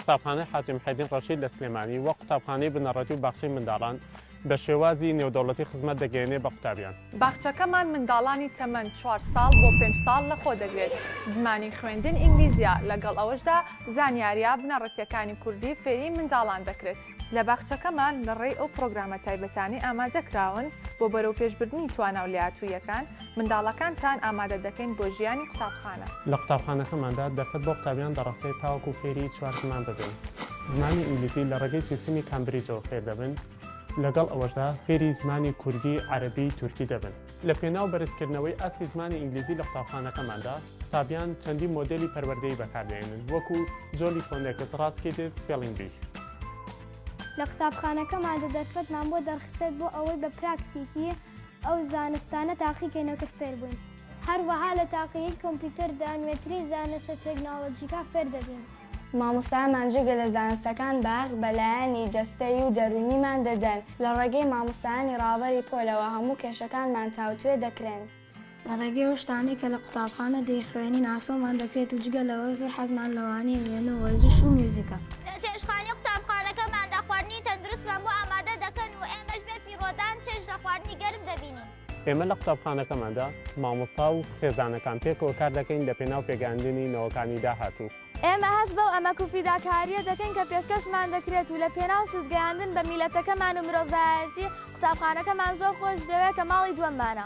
قوتابخانەی حاجی محێدین ڕەشید لە سلێمانی وەک قوتابخانەی بنەڕەتی و باخچەی منداڵان بە شێوازی نێودەوڵەتی خزمەت دەگەیەنێ بە قوتابیان. باخچەکەمان منداڵانی تەمەن چوار ساڵ بۆ پێنج ساڵ لە خۆ دەگرێت، زمانی خوێندن ئینگلیزیە، لەگەڵ ئەوەشدا زانیاریە بنەڕەتیەکانی کوردی فێری منداڵان دەکرێت. لە باخچەکەمان لە ڕێی ئەو پڕۆگرامە تایبەتانەی ئامادە کراون بۆ بەرەوپێشبردنی توانا و لێهاتووییەکان، منداڵەکانتان ئامادە دەکەین بۆ ژیانی قوتابخانە. لە قوتابخانەکەماندا دەرفەت بۆ قوتابیان دەڕەخسێت تاوەکو فێری چوار زمان ببن، زمانی ئینگلیزی لە ڕێگەی سیستمی کامبریجەوە فێر دەبن، لەگەڵ ئەوەشدا فێری زمانی کوردی، عەرەبی، تورکی دەبن. لە پێناو بەرزکردنەوەی ئاستی زمانی ئینگلیزی لە قوتابخانەکەماندا، قوتابیان چەندین مۆدێلی پەروەردەیی بەکاردەهێنن، وەکو Jolly Phonics، Raz Kids، Spelling Bee. لە قوتابخانەکەماندا دەرفەتمان بۆ دەڕخسێت بۆ ئەوەی بە پراکتیکی ئەو زانستانە تاقیکەینەوە کە فێربووین. هەروەها لە تاقیگەی کۆمپیوتەردا نوێترین زانستە تێکنۆلۆژیکان فێردەبین. مامۆستایانمان جگە لە زانستەکان بەهەق بەلایەنی جەستەیی و دەروونیمان دەدەن، لە ڕێگەی مامۆستایانی ڕابەری پۆلەوە هەموو کێشەکانمان تاوتوێ دەکرێن، لە ڕێگەی ئەو شتانەی کە لە قوتابخانە دەیخوێنین ئاسۆمان دەکرێت و جگە لەوە زۆر حەزمان لە وانەی وێنە و وەرزش و میوزیکە. لە چێشتخانەی قوتابخانەکەماندا خواردنی تەندروستمان بۆ ئامادە دەکەن و ئێمەش بێ فیڕۆدان چێژ لە خواردنی گەرم دەبینین. ئێمە لە قوتابخانەکەماندا مامۆستا و خێزانەکان پێکەوە کار دەکەین لەپێناو پێگەیاندنی نەوەکانی داهاتوو. ئێمە هەست بەو ئەمەک و فیداکارییە دەکەین کە پێشکەشمان دەکرێت و لەپێناو سوودگەیاندن بە میللەتەکەمان و مرۆڤایەتی، قوتابخانەکەمان زۆر خۆش دەوێت کە ماڵی دووەممانە.